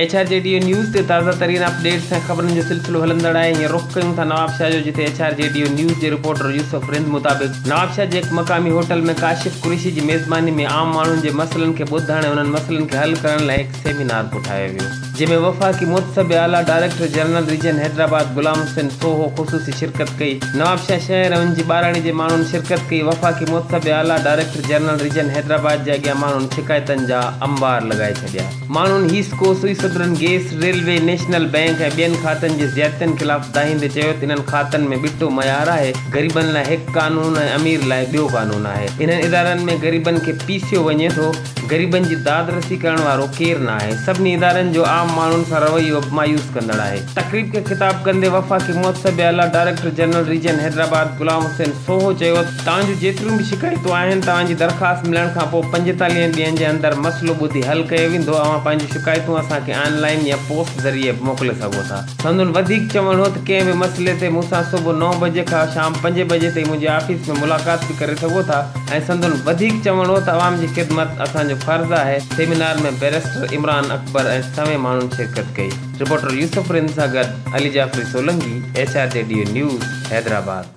H R G ڊيو news تي تازه ترين اپ ڊيٽس ۽ خبرن جو سلسلو هلندڙ آهي هينئر رخ ڪيون ٿا نوابشاهه جو جتي ايڇ آر جي ڊيو نيوز جي رپورٽر يوسف رند مطابق نوابشاهه جي هڪ مقامي هوٽل ۾ ڪاشف قريشي جي ميزباني ۾ عام ماڻهن جي مسئلن کي ٻڌڻ ۽ انهن مسئلن کي حل ڪرڻ لاء هڪ سيمينار ڪوٺايو ويو جنهن ۾ وفاقي محتسب اعليٰ director general region Hyderabad Ghulam Hussain Sohu خصوصي شرڪت ڪئي نوابشاهه شهر ۽ ان جي ٻاراڙي جي ماڻهن شرڪت ڪئي وفاقي محتسب اعليٰ ڊائريڪٽر جنرل ريجن حيدرآباد جي اڳيان ماڻهن شڪايتن جا انبار لڳائي ڇڏيا ماڻهن HESCO Sui southern gas railway national bank ۽ ٻين کاتن جي زيادتين خلاف دانهيندي چيو ته انهن کاتن ۾ ٻٽو معيار آهي غريبن لاء هڪ قانون ۽ امير لاء ٻيو قانون آهي انهن ادارن ۾ غريبن کي پيسيو وڃي ٿو غريبن جي داد رسي ڪرڻ وارو ڪير نه آهي، سڀني ادارن جو عام ماڻهن سان رويو به مايوس ڪندڙ آهي. تقريب کي خطاب ڪندي وفاقي محتسب اعليٰ director general region Hyderabad Ghulam Hussain Sohu چيو ته توهان جون جيتريون به شڪايتون آهن توهان جي درخواست ملڻ کان پوء پنجيتاليهن ڏينهن جي اندر مسئلو ٻڌي حل ڪيو ويندو اوهان پنهنجون شڪايتون اسان کي آن لائين يا پوسٽ ذريعي به موڪلي سگهو ٿا. سندن وڌيڪ چوڻ هو ته ڪنهن به مسئلي تي مون سان صبح نو بجي کان شام پنج بجي تائين منهنجي آفيس ۾ ملاقات به ڪري سگهو ٿا ۽ سندن وڌيڪ چوڻ هو ته عوام جي خدمت اسان جو فرض آهي. سيمينار ۾ بئريسٽر عمران اڪبر ۽ سوين ماڻهن شرڪت ڪئي. رپورٽر يوسف رند سان گڏ Ali Jafri Solangi, H R G ڊيو نيوز، حيدرآباد.